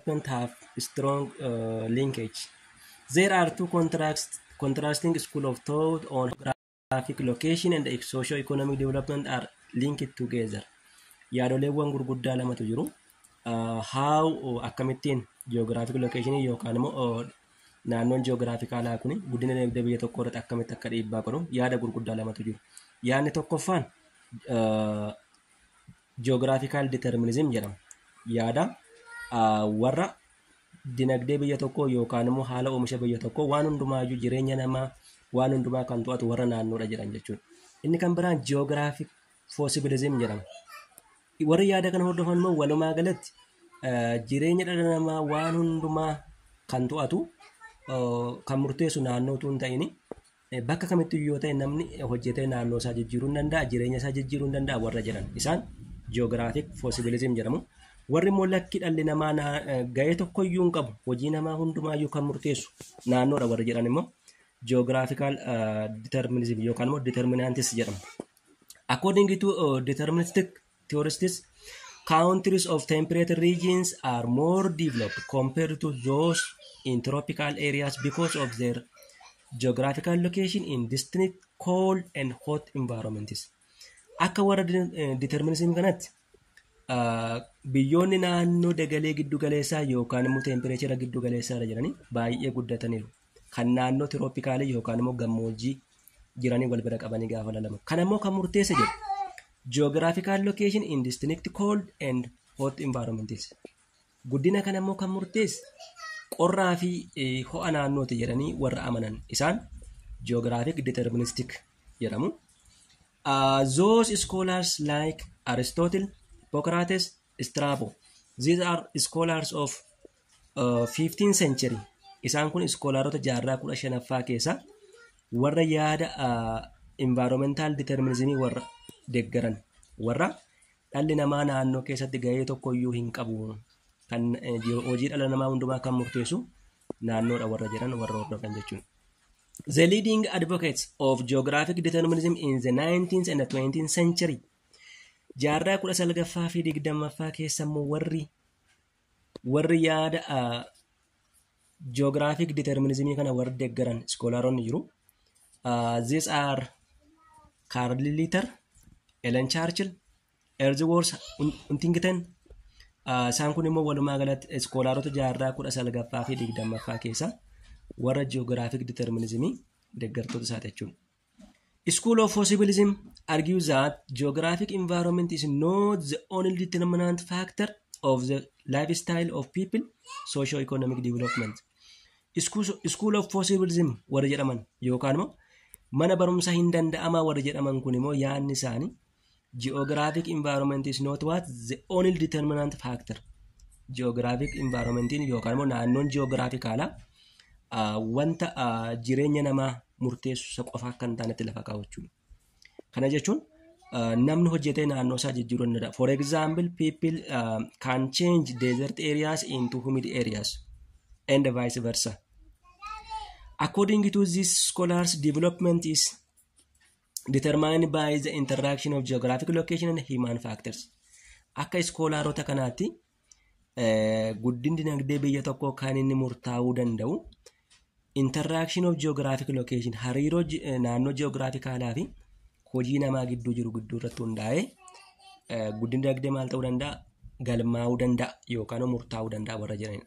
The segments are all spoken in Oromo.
don't have strong uh, linkage. There are two contrast, contrasting school of thought on geographic location and socio-economic development are linked together. Yaadoleewwan gurguddaa lamatu jiru. Uh, how uh, akkamittiin geographic location yookaan immoo uh, naannoon geographicaalaa kun guddina dinagdee biyya tokko irratti akkamitti akka dhiibbaa godhu yaada gurguddaa lamatu jiru. Yaadni tokkoffaan uh, Geographical determinism jedhama. Yaada warra dinagdee biyya tokkoo yookaan immoo haala oomisha biyya tokkoo waan hundumaayyuu jireenya namaa waan hundumaa kan to'atu warra naannoodha jedhan jechuudha. Inni kan biraan geographic fossibilism jedhama. Warri yaada kana hordofan immoo walumaa galatti jireenya dhala namaa waan hundumaa kan to'atu kan murteessu naannoo utuu hin ta'in Bakka kamittuu yoo ta'e namni hojjetee naannoo isaa jijjiiruu hin danda'a, jireenya isaa jijjiiruu hin danda'a warra jedhan. Isaan ji'oogiraafik foosibilizim jedhamu. Warri immoo lakki dhalli namaa ga'ee tokkoyyuu hin qabu, hojii namaa hundumaayyuu kan murteessu naannoodha warri jedhan immoo ji'oogiraafikaal diterminizim yookaan immoo diterminaantis jedhamu. According to deterministic tourists countries of temperate regions are more developed compared to those in tropical areas because of their geographical location in distinct cold and hot environments. Akka warra determinism kanatti ah, biyyoonni naannoo dagalee giddu galeessaa yookaan immoo teempireechera giddu galeessaa irra jiranii baay'ee guddataniiru. kan naannoo tirooppikaalii yookaan immoo gammoojjii jiranii wal bira qabanii gaafa lalamu. Kana immoo kan murteessa jedhu geographical location in distinct cold and hot environments. Guddina kana immoo kan murteessu qorraa fi eh, ho'a naannooti jedhanii warra amanan isaan geographic deterministic jedhamu. Uh, those scholars like Aristotle, Hippocrates, Strabo. These are scholars of 15 century isaan kun iskoolaarota jaarraa 15ffaa keessa warra yaada environmental determinism warra deggaran warra dhalli namaa naannoo keessatti gahee tokko iyyuu hin qabu kan eh, jiru- hojii dhala namaa hundumaa kan murteessu naannoodha warra jedhan warra hordofan jechuudha. The leading advocates of geographic determinism in the 19th and 20th century jaarraa 19ffaa fi 20ffaa keessa immoo warri Warri yaada ji'oogiraafik diterminizimii kana warri deeggaran iskoolaaronni jiru. These are Carl Litter, Ellen Churchill, Erziworth Huntington. Isaan kun immoo walumaa galatti iskoolaarota jaarraa kudha salgaffaa fi digdammaffaa keessa warra ji'oogiraafik diterminizimii deeggartoota isaati jechuudha. School of Possibilism argues that geographic environment is not the only determinant factor of the lifestyle of people socio-economic development. School- School of Possibilism warri jedhaman yookaan immoo mana barumsaa hin danda'amaa warri jedhaman kun immoo yaadni isaanii Geographic environment is not what the only determinant factor. Geographic environment yookaan immoo naannoon geographicaalaa ah, wanta ah, jireenya namaa murteessu isa qofa akka hin taanetti lafa kaa'u jechuudha. Kana jechuun ah, namni hojjetee naannoo isaa jijjiiruu ni danda'a. For example, people ah, can change desert areas into humid areas and vice versa. According to these scholars, development is determined by the interaction of geographic location and human factors. Akka iskoolaarota kanaatti eh, guddinni dinagdee biyya tokkoo kan inni murtaa'uu danda'u interaction of geographic location hariiroo ji- eh, naannoo geographikalaa fi hojii namaa gidduu jiru gidduu irratti hundaa'ee eh, guddinni dinagdee maal ta'uu danda'a galmaa'uu danda'a yookaan murtaa'uu danda'a warra jedhanidha.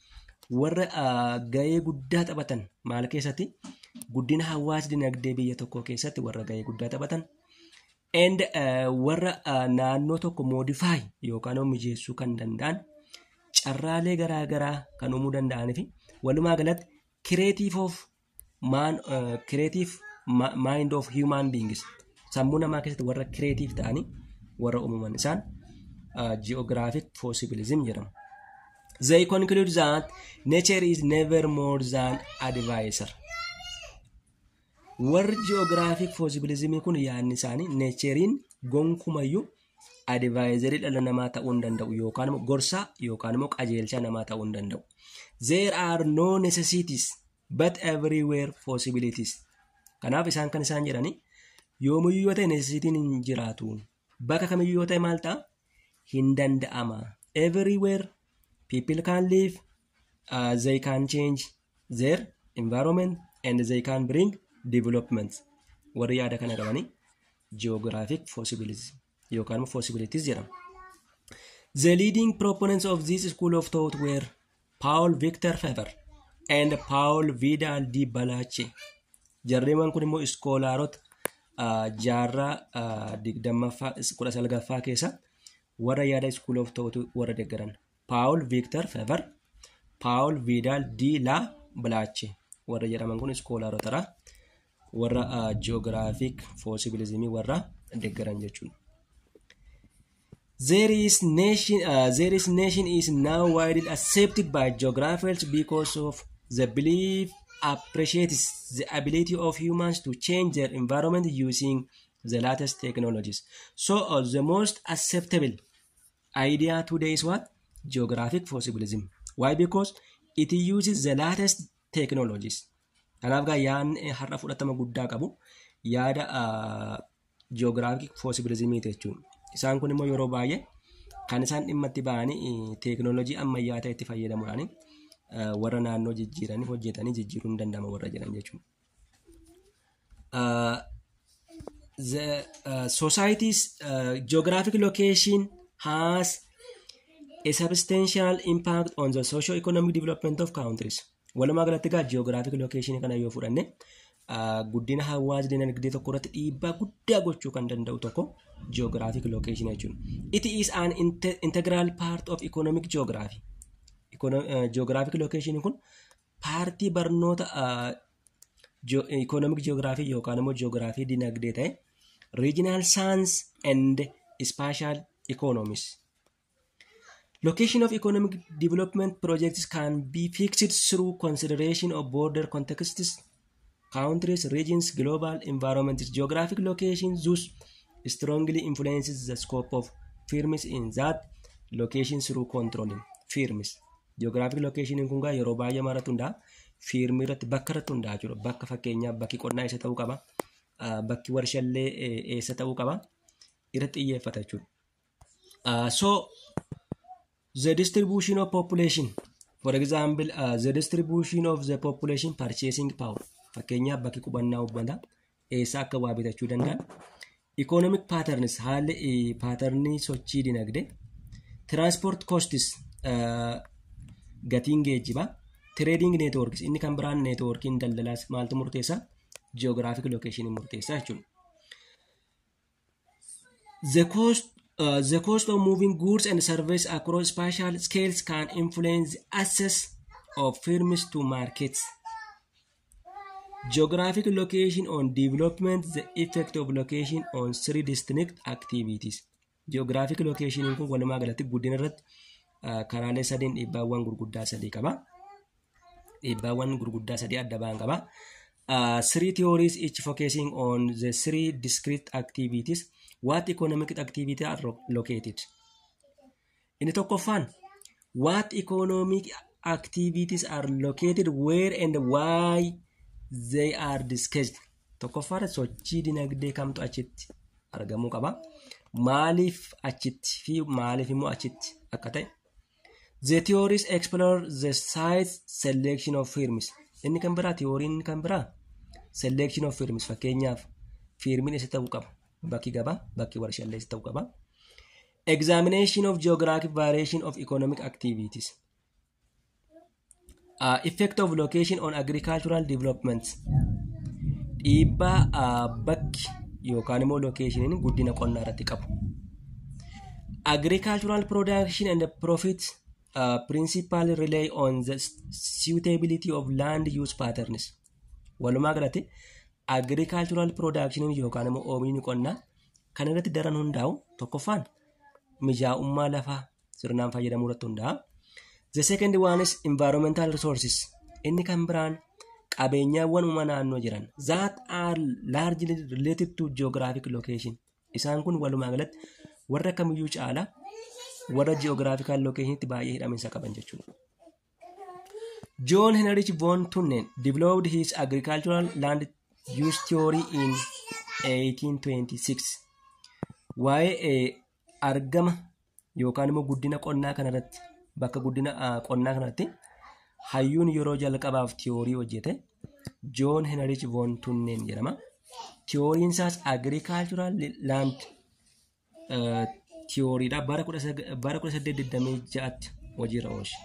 warra gahee guddaa taphatan maal keessatti guddina hawaas dinagdee biyya tokkoo keessatti warra gahee guddaa taphatan and warra naannoo tokko modify yookaan immoo mijeessuu kan danda'an carraalee garaa garaa kan uumuu danda'anii fi walumaa galatti kireetiif of maan kireetiif maayind oof hiyumaan biingis sammuu namaa keessatti warra kireetiif ta'anii warra uumaman isaan ji'oogiraafik poosibilizim jedhamu. They conclude that nature is never more than advisor. Warri ji'oogiraafik poosibilizimii kun yaadni isaanii neecheriin gonkumayyuu adivaayizarii dhala namaa ta'uu hin danda'u yookaan immoo gorsaa yookaan immoo qajeelchaa namaa ta'uu hin danda'u. There are no necessities but everywhere possibilities. Kanaaf isaan kan isaan jedhani yoomiyyuu yoo ta'e necessitiin hin jiraatu. Bakka kamiyyuu yoo ta'e maal ta'a? Hin danda'ama. Everywhere people can live, uh, they can change, their environment and they can bring developments warri yaada kana qabanii geographic possibilities yookaan immoo possibilities jedhama. The leading proponents of this school of thought were Paul Victor Faber and Paul Vidal di Balache. Jarreewwan kun immoo iskoolaarota ah, jaarraa ah, digdammaffaa kudha salgaffaa keessa warra yaada school of thought warra deeggaran. Paawul Viiktar Feevar, Paawul Viidaal Di Laa Bilaachi warra jedhaman kun iskoolaarotadha. Warra ji'oogiraafiik foosibilizimii warra deeggaran jechuudha. There is nation, uh, there is nation is now widely accepted by geographers because of the belief appreciates the ability of humans to change their environment using the latest technologies. So uh, the most acceptable idea today is what geographic possibilism why because it uses the latest technologies kanaaf gaa yaadni har'a fudhatama guddaa qabu yaada geographic possibilism jechuun isaan kun immoo yeroo baay'ee kan isaan dhimma itti ba'anii teeknooloojii ammayyaa ta'etti fayyadamuudhaan warra naannoo jijjiiranii hojjetanii jijjiiruun danda'ama warra jedhan jechuudha. Uh, the uh, society's uh, geographic location has a substantial impact on the socio-economic development of countries. Walumaa galatti egaa geographic location kana yoo fudhanne uh, guddina hawaas dinagdee tokko irratti dhiibbaa guddaa gochuu kan danda'u tokko geographic location jechuudha. It is an inte- integral part of economic geography. Econo- uh, geographic location kun paartii barnoota ikoonomik ji'oogiraafii yookaan immoo ji'oogiraafii dinagdee ta'e regional science and spatial economies. Location of economic development projects can be fixed through consideration of border contexts, countries regions global environments geographic location thus strongly influences the scope of firms in that location through controlling firms geographic location kun gaa yeroo baay'ee maratu hundaa firmii irratti bakka irratti hundaa jiru bakka fakkeenyaaf bakki qonnaa eessa ta'uu qaba ah, bakki warshallee eh, eessa ta'uu qaba irratti xiyyeeffata jechuudha. Ah, So The distribution of population. For example, uh, the distribution of the population purchasing power. Fakkeenyaaf bakki qubannaa uummataa eessaa akka waa bitachuu danda'an. Economic patterns haalli eh, paaternii sochii dinagdee. Transport costs uh, gatiin geejjibaa. Trading networks inni kan biraan networkiin daldalaas maaltu murteessaa? Geographic location murteessaa jechuudha. The cost, uh, the cost of moving goods and services across spatial scales can influence the access of firms to markets. Geographic location on development, the effect of location on three distinct activities. Geographic location kun walumaa galatti guddina irratti uh, karaalee sadeen dhiibbaawwan gurguddaa sadii qaba. Dhiibbaawwan gurguddaa sadii adda ba'an qaba. Uh, three theories each focusing on the three discrete activities what economic activity are lo- located. Inni tokkoffaan what economic activities are located where and why they are discussed. Tokkoffaadha sochii dinagdee kamtu achitti argamuu qaba. Maaliif achitti fi maaliif immoo achitti akka ta'e The theories explore the size selection of firms. Inni kan biraa theory inni kan biraa selection of firms fakkeenyaaf firmiin isa ta'uu qaba. Bakki gabaa, bakki warshaalee isa ta'uu qaba. Examination of geographic variation of economic activities. Uh, effect of location on agricultural development dhiibbaa uh, bakki yookaan immoo lokeeshiniin guddina qonnaa irratti qabu. Agricultural production and profit uh, principally rely on the suitability of land use patterns. Walumaa galatti agricultural production yookaan immoo oomishni qonnaa kan irratti daran hundaa'u tokkoffaan mijaa'ummaa lafaa sirnaan fayyadamuu irratti hundaa'a. The second one is environmental resources. Inni kan biraan qabeenyaawwan uumama naannoo jiran that are largely related to geographic location. Isaan kun walumaa galatti warra kamiyyuu caala warra geographical locationitti baay'ee hidhaminsa qaban jechuudha. John Heinrich von Thunen developed his agricultural land use theory in 1826. Waa'ee eh, argama yookaan immoo guddina qonnaa kanarratti bakka guddina ah, qonnaa kanarratti hayyuun yeroo jalqabaaf tiyoorii hojjete Joon Henrich Von Tunneen jedhama. Tiyooriin isaas agricultural land eh, tiyooriidha bara 19 bara 1826tti hojiirra oolche.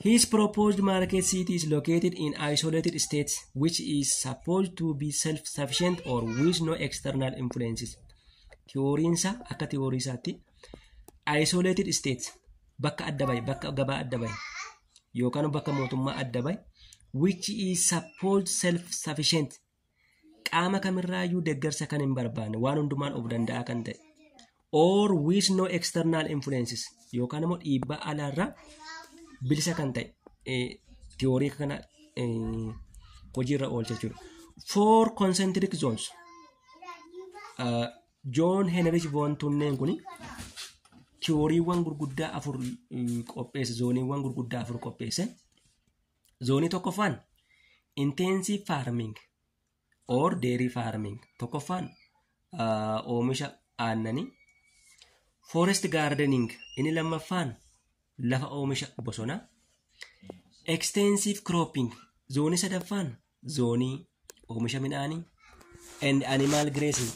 His proposed market city is located in isolated states which is supposed to be self-sufficient or with no external influences. Tiyooriinsaa akka tiyooriisaatti isolated states bakka adda bahe bakka gabaa adda bahe yookaan bakka mootummaa adda bahe which is supposed self sufficient qaama kamirraayyuu deeggarsa kan hin barbaanne waan hundumaan of danda'a kan ta'e or with no external influences yookaan immoo dhiibbaa alaarraa bilisa kan ta'e eh, tiyoorii kana eh, hojiirra oolcha jechuudha. Four concentric zones Joon Heenrich Voon Tunneen kun tiyooriiwwan gurguddaa afur qopheesse zooniiwwan gurguddaa afur qopheesse. Zoonii tokkoffaan intensive farming or dairy farming tokkoffaan oomisha aannanii forest gardening inni lammaffaan lafa oomisha bosonaa extensive cropping zoonii sadaffaan zoonii oomisha midhaanii and animal grazing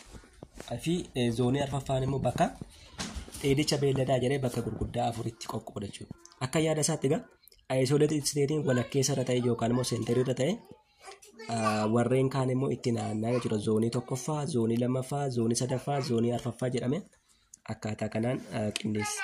fi eh, zoonii arfaffaan immoo bakka dheedicha beelladaa jedhee bakka gurguddaa afuritti qoqqooda jechuudha. Akka yaada isaatti egaa isolated statein walakkeessa irra ta'e yookaan immoo seenterii irra ta'e ah, warreen kaan immoo itti naannaa jechuudha. Zoonii tokkoffaa, zoonii lammaffaa, zoonii sadaffaa, zoonii arfaffaa jedhame akkaataa kanaan ah, qindeessa.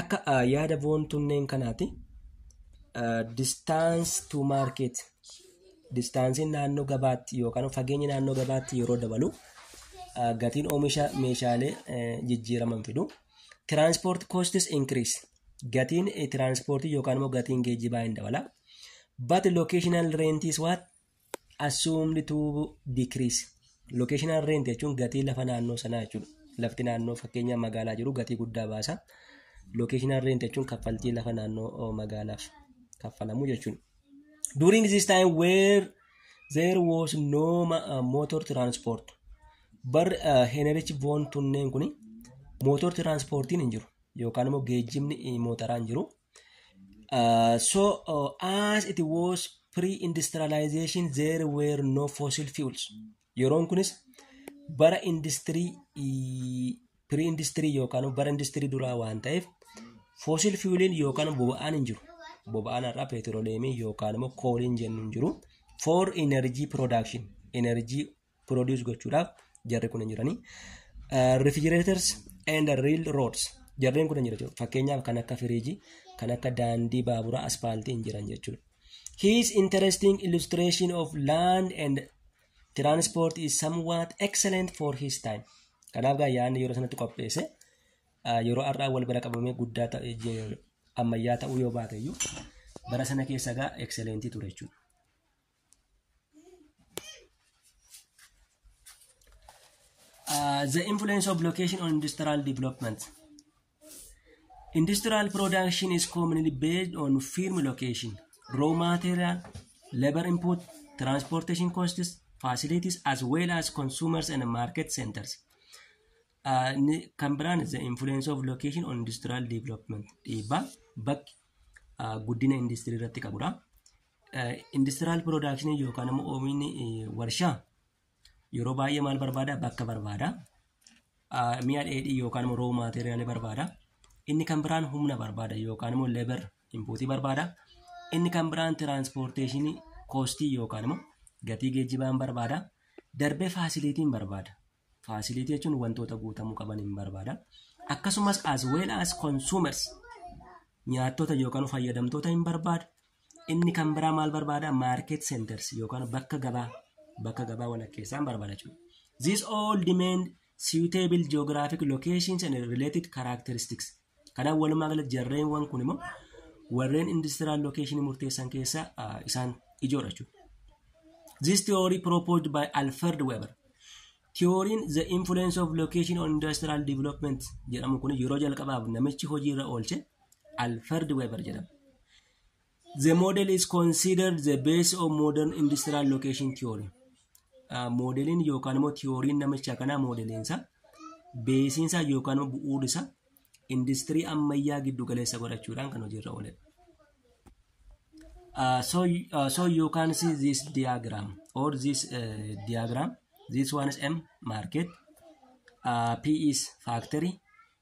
Akka ah, yaada boontunneen kanaati. Distance to market. Distaansiin naannoo gabaatti yookaan fageenyi naannoo gabaatti yeroo dabalu ah, gatiin oomisha meeshaalee eh, jijjiiraman fidu. Transport costs increase. Gatiin eh, tiraanspoortii yookaan immoo gatiin geejjibaa hin dabala. But locational rent is what? assumed to decrease locational rent jechuun gatii lafa naannoo sanaa jechuudha lafti naannoo fakkeenya magaalaa jiru gatii guddaa baasa locational rent jechuun kaffaltii lafa naannoo oh, magaalaaf kaffalamu jechuudha during this time where there was no ma- uh, motor transport bar uh, henerichi voon tunneen kun motor transportiin hin jiru yookaan immoo geejjibni eh, mootaraan jiru Uh, so uh, as it was pre-industrialization there were no fossil fuels. Yeroon kunis bara industirii pre-industirii yookaan bara industirii duraa waan ta'eef fossil fueliin yookaan boba'aan hin jiru. Boba'aan har'aa peetirooleemii yookaan immoo kooliin jennu hin jiru. For energy production energy produce gochuudhaaf jarri kun hin jiranii. Uh, refrigerators and rail roads jarreen kun hin jiran jechuudha. Fakkeenyaaf kan akka firiijii, kan akka daandii baaburaa aspaaltii hin jiran jechuudha. His interesting illustration of land and transport is somewhat excellent for his time. Kanaaf gaa yaadni yeroo sanatti qopheesse uh, yeroo har'aa wal bira qabamee guddaa ta'e je- ammayyaa ta'uu yoo baate iyyuu bara sana keessa gaa excellent ture jechuudha. Uh, the influence of location on industrial development. Industrial production is commonly based on firm location, raw material, labor input, transportation costs, facilities, as well as consumers and market centers. Uh, ni- kan biraan the influence of location on industrial development dhiibbaa bakki uh, guddina industirii irratti qabudha. Industiraal piroodaakshiniin yookaan immoo oomishni warshaa yeroo baay'ee maal barbaada? Bakka barbaada. Mi'a dheedhii yookaan immoo roow maateeriyaalii barbaada. Inni kan biraan humna barbaada yookaan immoo leebar inpuutii barbaada. Inni kan biraan tiraanspoorteeshinii koostii yookaan immoo gatii geejjibaan barbaada. Darbee faasiliitiin barbaada. Facility jechuun wantoota guutamuu qaban hin barbaada. Akkasumas as well as consumers nyaattoota yookaan fayyadamtoota hin barbaadu. Inni kan biraa maal barbaada? Market centers yookaan bakka gabaa bakka gabaa walakkeessaa hin barbaada jechuudha. These all demand suitable geographic locations and related characteristics. Kanaaf walumaa galatti jarreenwwan kun immoo warreen industiraal lokeeshinii murteessan keessaa ah, isaan ijoodha jechuudha. This theory proposed by Alfred Weber. Theory'n the influence of location on industrial development jedhamu kun yeroo jalqabaaf namichi hojiirra oolche Alfred Weber jedhama. The model is considered the base of modern industrial location theory. Ah, Moodeliin yookaan immoo tiyooriin namicha kanaa moodeliinsa beesiinsa yookaan immoo bu'uurisa industirii ammayyaa giddu galeessa godhachuudhaan kan hojiirra ooledha. Uh, so, uh, so you can see this diagram or this uh, diagram. This one is M market, uh, P is factory,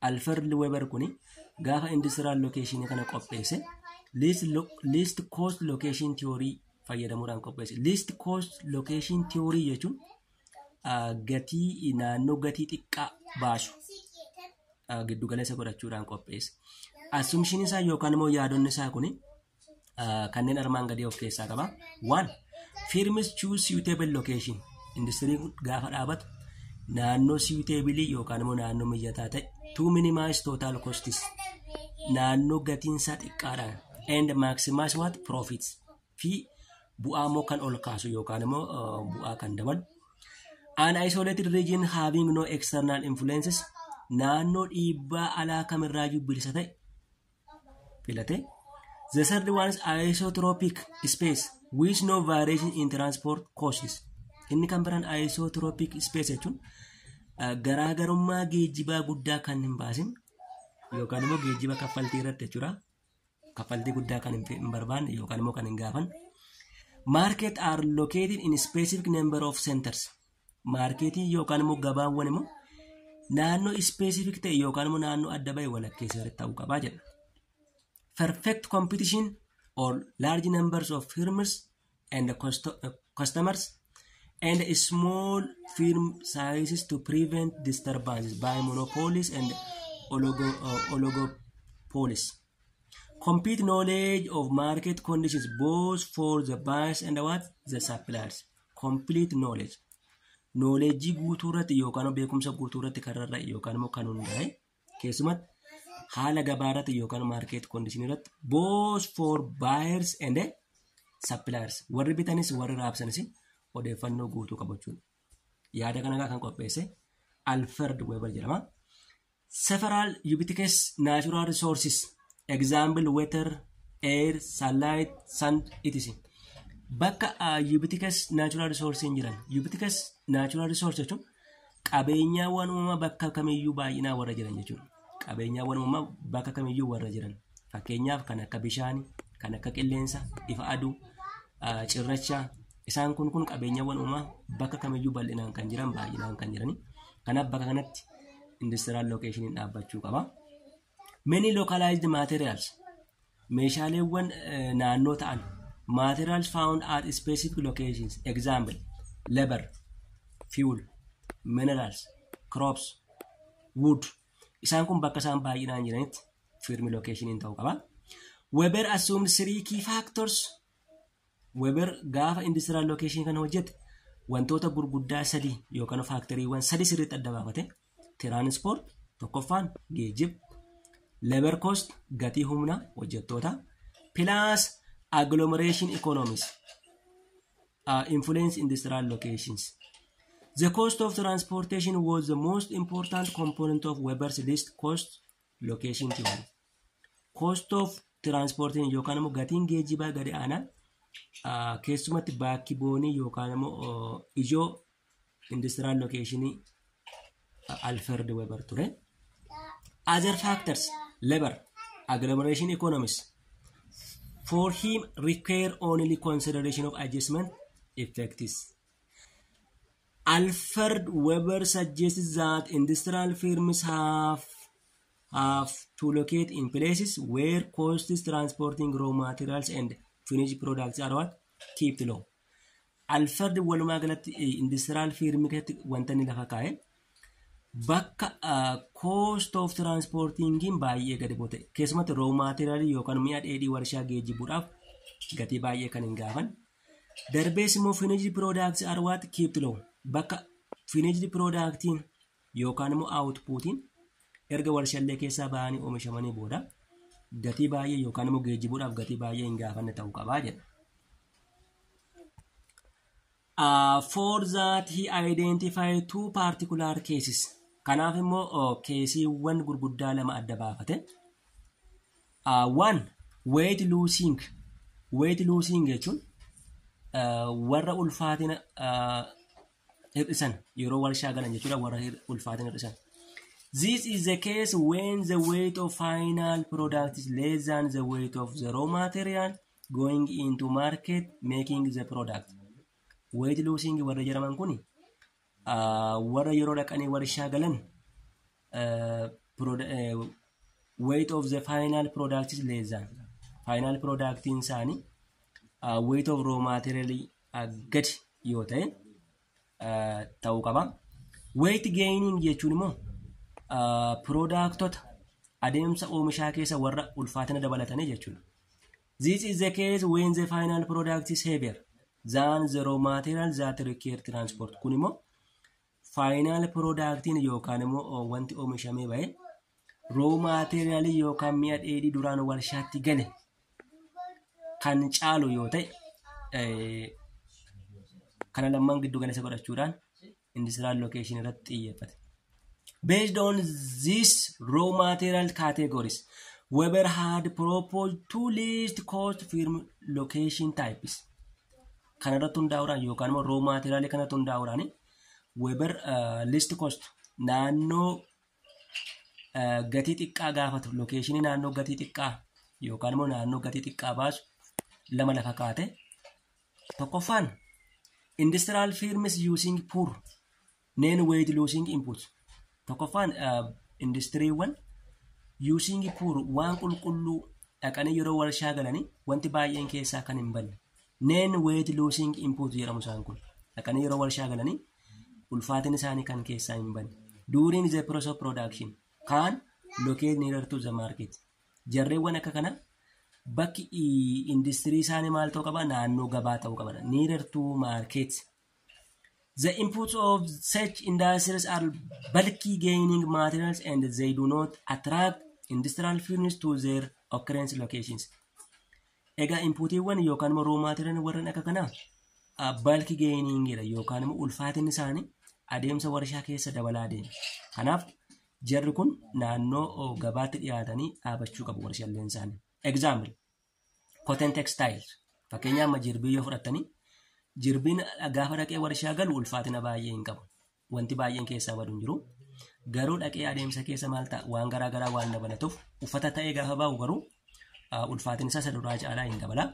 Alfred Weber kuni gaafa industrial location kana qopheesse least, lo, least cost location theory fayyadamuudhaan qopheesse. Least cost location theory jechuun ah, gatii naannoo gatii xiqqaa baasu ah, giddugaleessa godhachuudhaan qopheesse. Assumption isaa yookaan immoo yaadonni isaa kuni uh, kanneen armaan gadii of keessaa qaba. One, firms choose suitable location. Industiriin kun gaafa dhaabatu naannoo suitabilii yookaan immoo naannoo mijataa ta'e to minimize total costs naannoo gatiin isaa xiqqaadhaan and maximize what profits fi bu'aa immoo kan ol kaasu yookaan immoo uh, bu'aa kan dabalu. An isolated region having no external influences naannoo dhiibbaa alaa kamirraayyuu bilisa ta'e filatee the third one is isotropic space with no variation in transport costs inni kan biraan isotropic space jechuun uh, garaagarummaa geejjibaa guddaa kan hin baasin yookaan immoo geejjiba kaffaltii irratti jechuudha kaffaltii guddaa kan hin fe- hin barbaanne yookaan immoo kan hin gaafanne market are located in specific number of centers Maarkeetiin yookaan immoo gabaawwan immoo naannoo ispeesifik ta'e yookaan immoo naannoo adda ba'e walakkeessa irratti ta'uu qabaa jedha. Perfect competition or large numbers of firms and custo- uh, customers and a small firm sizes to prevent disturbances by monopolies and oligo, uh, oligopolies. Complete knowledge of market conditions both for the buyers and what the suppliers. Complete knowledge. Nooleejjii guutuu irratti yookaan beekumsa guutuu irratti kan rarra'e yookaan immoo kan hundaa'e keessumatti haala gabaa irratti yookaan maarkeet koondishinii irratti both for buyers and suppliers warri bitanis warri raabsanis odeeffannoo guutuu qabachuudha. Yaada kana kan qopheesse Alfred Weber jedhama. Several ubiquitous natural resources, example water, air, sunlight, sand, etc. Bakka uh, ubiquitous natural resources hin jiran. Ubiquitous natural resource jechuun qabeenyaawwan uumamaa bakka kamiyyuu baay'inaa warra jiran jechuudha. Qabeenyaawwan uumamaa bakka kamiyyuu warra jiran. Fakkeenyaaf kan akka bishaanii, kan akka qilleensa, ifa aduu, uh, cirrachaa, Isaan kun kun qabeenyawwan uumaa bakka kamiyyuu bal'inaan kan jiran baay'inaan kan jirani. Kanaaf bakka kanatti industrial location dhaabbachuu qaba. Many localized materials meeshaaleewwan eh, naannoo ta'an materials found at specific locations example labor fuel minerals crops wood isaan kun bakka isaan baay'inaan jiranitti firmi location ta'uu qaba. Weber assumed three key factors Weber gaafa industrial location kan hojjete wantoota gurguddaa sadii yookaan faaktoriiwwan sadii sirriitti adda baafate. Tiraanispoort tokkoffaan geejjiba. Lebar cost gatii humna hojjettootaa. Pilaas agglomeration economies. Uh, influence industrial locations. The cost of transportation was the most important component of Weber's list cost location theory. cost of transport yookaan immoo gatiin geejjibaa gadi aanaa ah, keessumatti baakki boonii yookaan immoo oh, ijoo industiraal lokeeshinii Alfred Weber ture. Other factors labor agglomeration economies for him require only consideration of adjustment effects. Alfred Weber suggests that industrial firms have have to locate in places where costs transporting raw materials and finished products are what keep low. Alfred walumaa galatti industiraal fiirmii keessatti wanta inni lafa kaa'e bakka cost of transportingiin baay'ee gadi bu'e keessumatti raw material yookaan mi'a dheedhii warshaa geejjibuudhaaf gatii baay'ee kan hin gaafan. Darbees immoo finished products are what keep low. Bakka finished productiin yookaan immoo aawutpuutiin erga warshallee keessaa bahanii oomishamanii booda gatii baay'ee yookaan immoo geejjibuudhaaf gatii baay'ee hin gaafanne ta'uu qabaa jedha. Uh, for that he identified two particular cases. Kanaaf immoo oh, keesiiwwan gurguddaa lama adda baafate. Uh, one, weight losing. Weight losing jechuun uh, warra ulfaatina uh, hir'isan yeroo warshaa galan jechuudha warra hir- ulfaatan hir'isan. This is the case when the weight of final product is less than the weight of the raw material going into market making the product. Weight losing warra jedhaman kuni ah, warra yeroo dhaqanii warshaa galan ah, produ- eh, weight of the final product is less than final productiin isaanii ah, weight of raw material gadi yoo ta'e ta'uu qaba. Weight gaining jechuun immoo piroodaaktota adeemsa oomishaa keessa warra ulfaatina dabalatanii jechuudha. This is the case when the final product is heavier than the raw material that require transport. Kun immoo Faayinaal piroodaaktiin yookaan immoo wanti oomishamee ba'e roo maateeriyaalii yookaan mi'a dheedhii duraan warshaatti gale kan caalu yoo ta'e eh, kana lamman giddu galeessa godhachuudhaan industiraal location irratti xiyyeeffate. Based on these raw material categories, Weber had proposed two least cost firm location types. kana irratti hundaa'uudhaan yookaan immoo roo maateeriyaalii kanatti hundaa'uudhaan weebar liist koost naannoo eh, gatii xiqqaa gaafatu lokeeshinii naannoo gatii xiqqaa yookaan immoo naannoo gatii xiqqaa baasu lama lafa kaate tokkoffaan industrial firms using poor neen weeyit luusiing input tokkoffaan industiriiwwan yuusiingi puur waan qulqulluu dhaqanii yeroo warshaa galanii wanti baay'een keessaa kan hin banne neen weeyit luusiing input jedhamu isaan kun dhaqanii yeroo warshaa galanii ulfaatin isaanii kan keessaa hin banne during the process of production kaan locate nearer to the market jarreewwan akka kana bakki industirii isaanii maal ta'uu qaba naannoo gabaa ta'uu qaba nearer to market The inputs of such industries are bulky gaining materials and they do not attract industrial fuels to their occurrence locations. Egaa inputiiwwan yookaan immoo raw material warreen akka kanaa bulky gaining dha yookaan immoo ulfaatinni isaanii adeemsa warshaa keessa dabalaa deema. Kanaaf jarri kun naannoo gabaatti dhiyaatanii dhaabachuu qabu warshaaleen isaanii. Example. Cotton textile fakkeenyaa amma jirbii yoo fudhattanii jirbiin gaafa dhaqee warshaa galu ulfaatina baay'ee hin qabu. Wanti baay'een keessaa badu hin jiru. Garuu dhaqee adeemsa keessa maal ta'a waan garaa garaa waan dabalatuuf uffata ta'ee gaafa bahu garuu ulfaatina isa duraa caalaa hin dabala.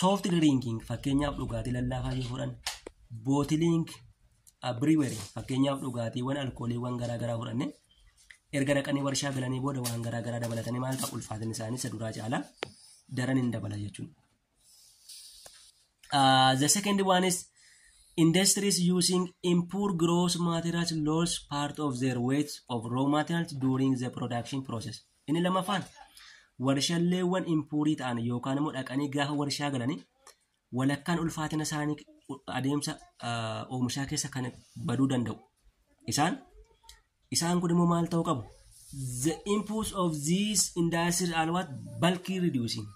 Soft drinking fakkeenyaaf dhugaatii lallaafaa yoo fudhan bootiliing Abiriweri fakkeenyaaf dhugaatiiwwan alkooliiwwan garaa garaa fudhanne erga dhaqanii warshaa galanii booda waan garaa garaa dabalatanii maal ta'a ulfaatinni isaanii isa duraa caalaa daran hin dabala jechuudha. Uh, the second one is industries using impure gross materials lose part of their weight of raw materials during the production process. Inni lammaffaan warshalleewwan impuurii ta'an yookaan immoo dhaqanii gaafa warshaa galanii walakkaan ulfaatina isaanii adeemsa oomishaa keessa kan baduu danda'u. Isaan isaan kun immoo maal ta'uu qabu? The inputs of these industries are what bulky reducing.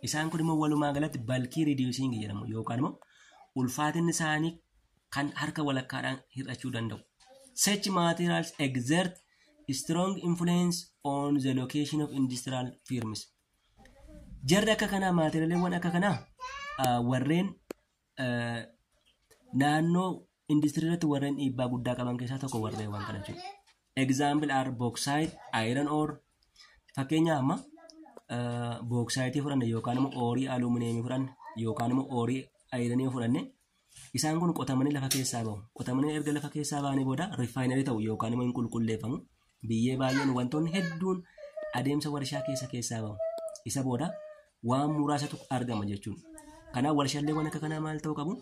Isaan kun immoo walumaa galatti bulky reducing jedhamu yookaan immoo ulfaatinni isaanii kan harka walakkaadhaan hir'achuu danda'u. Such materials exert strong influence on the location of industrial firms. Jarri akka kanaa maatiriyaaleewwan akka kanaa warreen naannoo industirii irratti warreen dhiibbaa guddaa qaban keessaa tokko warreen waan kana jechuudha. Example are bauxite, iron ore. Fakkeenyaaf amma bauxite fudhanne yookaan immoo oorii aluminiyemii fudhanne yookaan immoo oorii ayiranii fudhanne Isaan kun qotamanii lafa keessaa bahu. Qotamanii erga lafa keessaa bahanii booda rifaayinarii ta'u yookaan immoo hin qulqulleeffamu. Biyyee baay'een wantoonni hedduun adeemsa warshaa keessa keessaa bahu. Isa booda waan muraasatu argama jechuudha. Kanaaf warshalleewwan akka kanaa maal ta'uu qabu?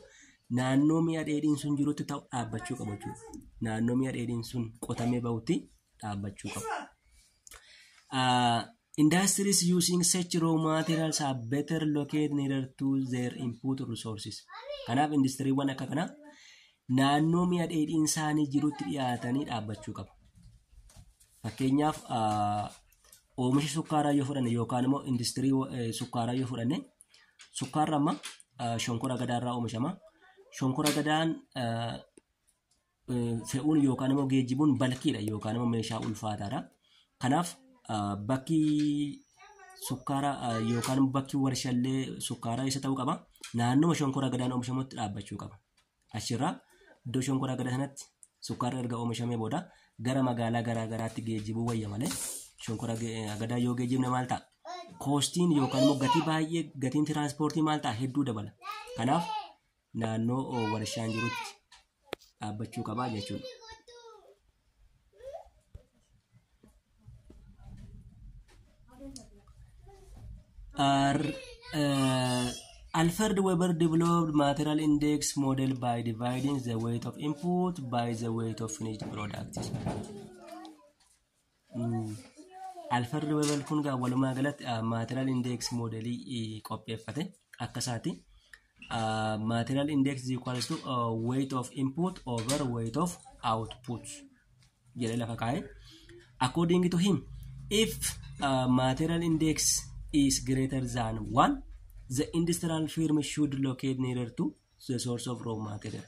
Naannoo mi'a dheedhiin sun jirutti ta'u dhaabbachuu qabu jechuudha. Naannoo mi'a dheedhiin sun qotamee bahutti dhaabbachuu qabu. Ah, Industries using such raw materials are better located nearer to their input resources. Kanaaf industiriiwwan akka kanaa naannoo mi'a dheedhiin isaanii jirutti dhiyaatanii dhaabbachuu qabu. Fakkeenyaaf ah, oomisha sukkaaraa yoo fudhanne yookaan immoo industirii eh, sukkaaraa yoo fudhanne sukkaarri amma ah, shonkora gadaarraa oomishama. Shonkora gadaan ah, fe'uun yookaan immoo geejjibuun balkiidha yookaan immoo meeshaa ulfaataadha. Kanaaf bakki sukkaara yookaan immoo bakki warshallee sukkaaraa isa ta'uu qaba. Naannoo shonkora agadaan oomishamutti dhaabbachuu qaba. Achirraa iddoo shonkora agadaa sanatti sukkaarri erga oomishamee booda gara magaalaa garaa garaatti geejjibuu wayya malee shonkora agadaa yoo geejjibne maal ta'a? Koostiin yookaan immoo gatii baay'ee gatiin tiraanspoortii maal ta'a? Hedduu dabala. Kanaaf naannoo warshaan jirutti dhaabbachuu qabaa jechuudha. Alfred Weber developed material index model by dividing the weight of input by the weight of finished products. Alfa riiveebal kun gaa walumaa galatti maatiraal indeeksi moodelii qopheeffate akka isaati. Maatiraal indeeksi equals to weight of input over weight of output jedhee lafa kaa'e. According to him, if uh, material index is greater than 1, the industrial firm should locate nearer to the source of raw material.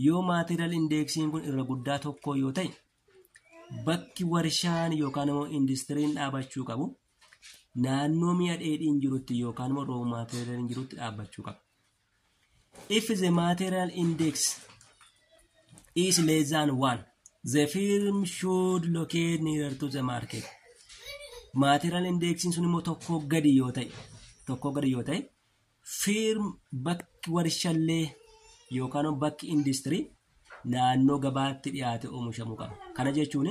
Yoo material indexiin kun irra guddaa tokko yoo ta'e bakki warshaan yookaan immoo industiriin dhaabachuu qabu naannoo mi'a dheedhiin jirutti yookaan immoo raw material jirutti dhaabbachuu qaba. If the material index is less than one, the firm should locate nearer to the market. Material indexiin sun immoo tokkoo gadi yoo ta'e tokkoo gadi yoo ta'e Firm bakki warshallee yookaan immoo bakki industirii naannoo gabaatti dhiyaate oomishamu qaba. Kana jechuun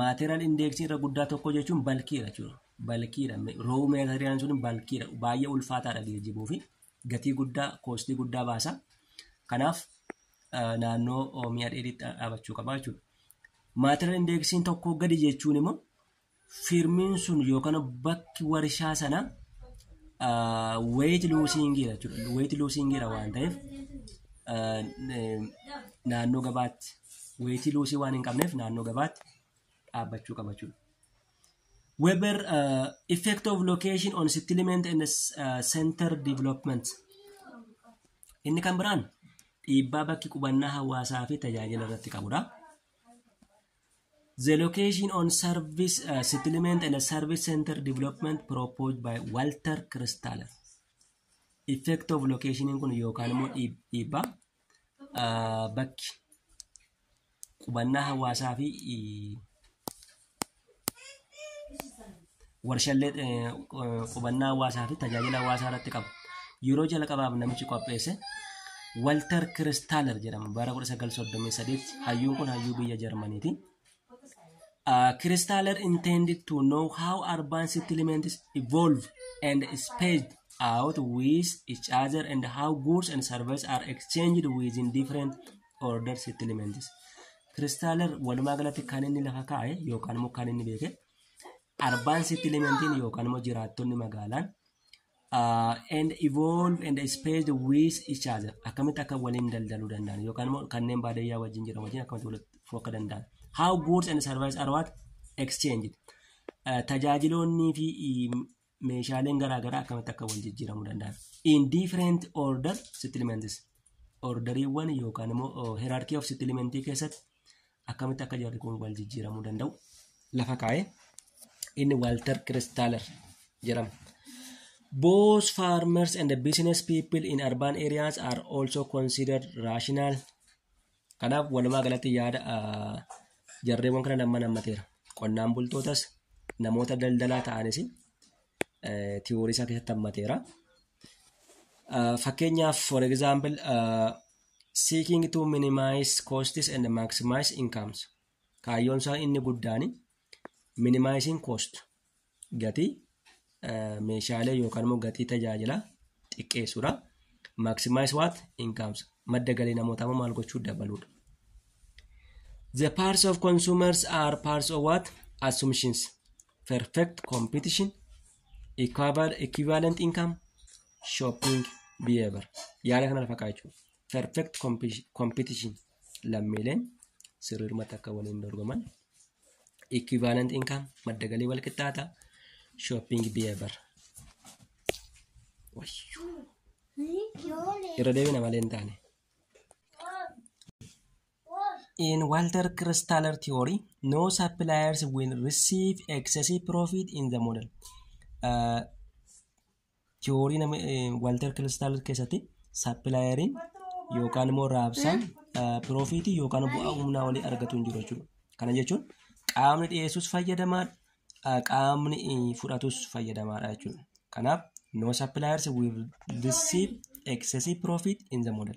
maateeriyal indeeksii irra guddaa tokko jechuun balkiidha jechuudha. Balkiidha. Roowu maateeriyaan sun balkiidha. Baay'ee ulfaataadha geejjibuu fi gatii guddaa koostii guddaa baasa. Kanaaf ah, naannoo oh, mi'a dheedhiitti dhaabachuu qaba jechuudha. Maateeriyal indeeksiin tokko gadi jechuun immoo firmiin sun yookaan bakki warshaa sana weeyit luusiingiidha jechuudha. Weeyit luusiingiidha waan ta'eef ah, eh, naannoo gabaatti weeyitii luusii waan hin qabneef naannoo gabaatti dhaabbachuu qaba jechuudha. Weber uh, effect of location on settlement and uh, center development. Inni kan biraan dhiibbaa bakki qubannaa hawaasaa fi tajaajila irratti qabudha. The location on service uh, settlement and service center development proposed by Walter Kristaller. Effect of location kun yookaan immoo dhiib- dhiibbaa uh, bakki qubannaa hawaasaa fi warshallee qubannaa hawaasaa fi tajaajila hawaasaa irratti qabu yeroo jalqabaaf namichi qopheesse Walter Kiristaaler jedhama bara 1938 hayyuun kun hayyuu biyya Jarmaniiti. Uh, Kiristaaler intended to know how urban settlements evolve and spaced out with each other and how goods and services are exchanged within different order settlements. Kiristaaler walumaa galatti kan inni lafa kaa'e yookaan immoo kan inni beeke Arbaan settlementiin yookaan immoo jiraattonni magaalaan uh, and evolve and space with each other akkamitti akka waliin daldaluu danda'an yookaan immoo kanneen baadiyyaa wajjin jiran wajjin akkamitti walitti dhufuu akka danda'an how goods and services are what exchanged uh, tajaajiloonnii fi um, meeshaaleen garaa garaa akkamitti akka wal jijjiiramuu danda'an. In different order settlements. Orderiiwwan yookaan immoo hierarchy of settlement keessatti akkamitti akka jarri kun wal jijjiiramuu danda'u lafa kaa'ee inni Walter Kristaller jedhama. Both farmers and business people in urban areas are also considered rational Kanaaf walumaa galatti yaada jarreewwan kana lamman hammateera. Qonnaan bultootas namoota daldalaa ta'anis tiyoorii isaa keessatti hammateera. Fakkeenyaaf for example seeking to minimize costs and maximize incomes kaayyoon isaa inni guddaan Minimizing cost gatii meeshaalee yookaan immoo gatii tajaajilaa xiqqeessuudha. Maximize what incomes madda galii namootaa immoo maal gochuu dabaluudha. The parts of consumers are parts of what assumptions perfect competition equivalent income shopping behavior yaada kana fakkaachuu. perfect competition lammiileen sirriirmatti akka waliin dorgoman equivalent income madda galii wal qixxaata shopping behavior irra deebina malee hin taane. In Walter Kristaller theory, no suppliers will receive excessive profit in the model. Uh, tiyoorii nama Walter Kiristal keessatti sappilaayeriin yookaan immoo raabsaan piroofiitii yookaan bu'aa humnaa olii argatu hin jiru jechuudha. Kana jechuun qaamni dhiyeessus fayyadamaa qaamni fudhatus fayyadamaadha jechuudha. Kanaaf no suppliers will receive excessive profit in the model.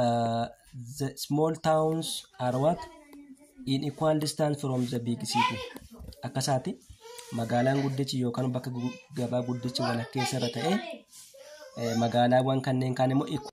uh, the small towns are what in equal distance from the big city akkasaati magaalaan guddichi yookaan bakka gu- gabaa guddichi walakkeessa irra ta'e eh, magaalaawwan kanneen kaan immoo equ-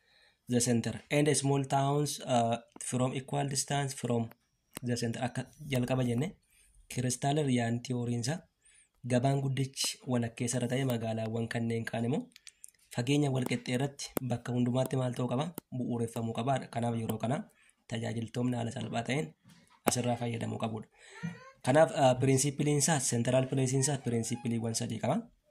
the center and small towns uh, from equal distance from the center akka jalqaba jenne kiristaal riyaan tiyooriinsa gabaan guddichi walakkeessa irra ta'e magaalaawwan kanneen kaan immoo fageenya walqixxee irratti bakka hundumaatti maal ta'uu qaba bu'uureffamuu qaba kanaaf yeroo kana tajaajiltoonni haala salphaa ta'een asirraa fayyadamuu qabudha kanaaf piriinsiipiliinsaa seentiraal pileesiinsaa piriinsiipiliiwwan sadii qaba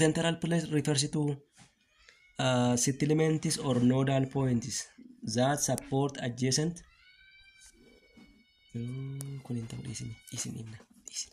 central place refers to uh, settlements or nodal points that support adjacent kun hin ta'u dhiisin dhiisin inna dhiisin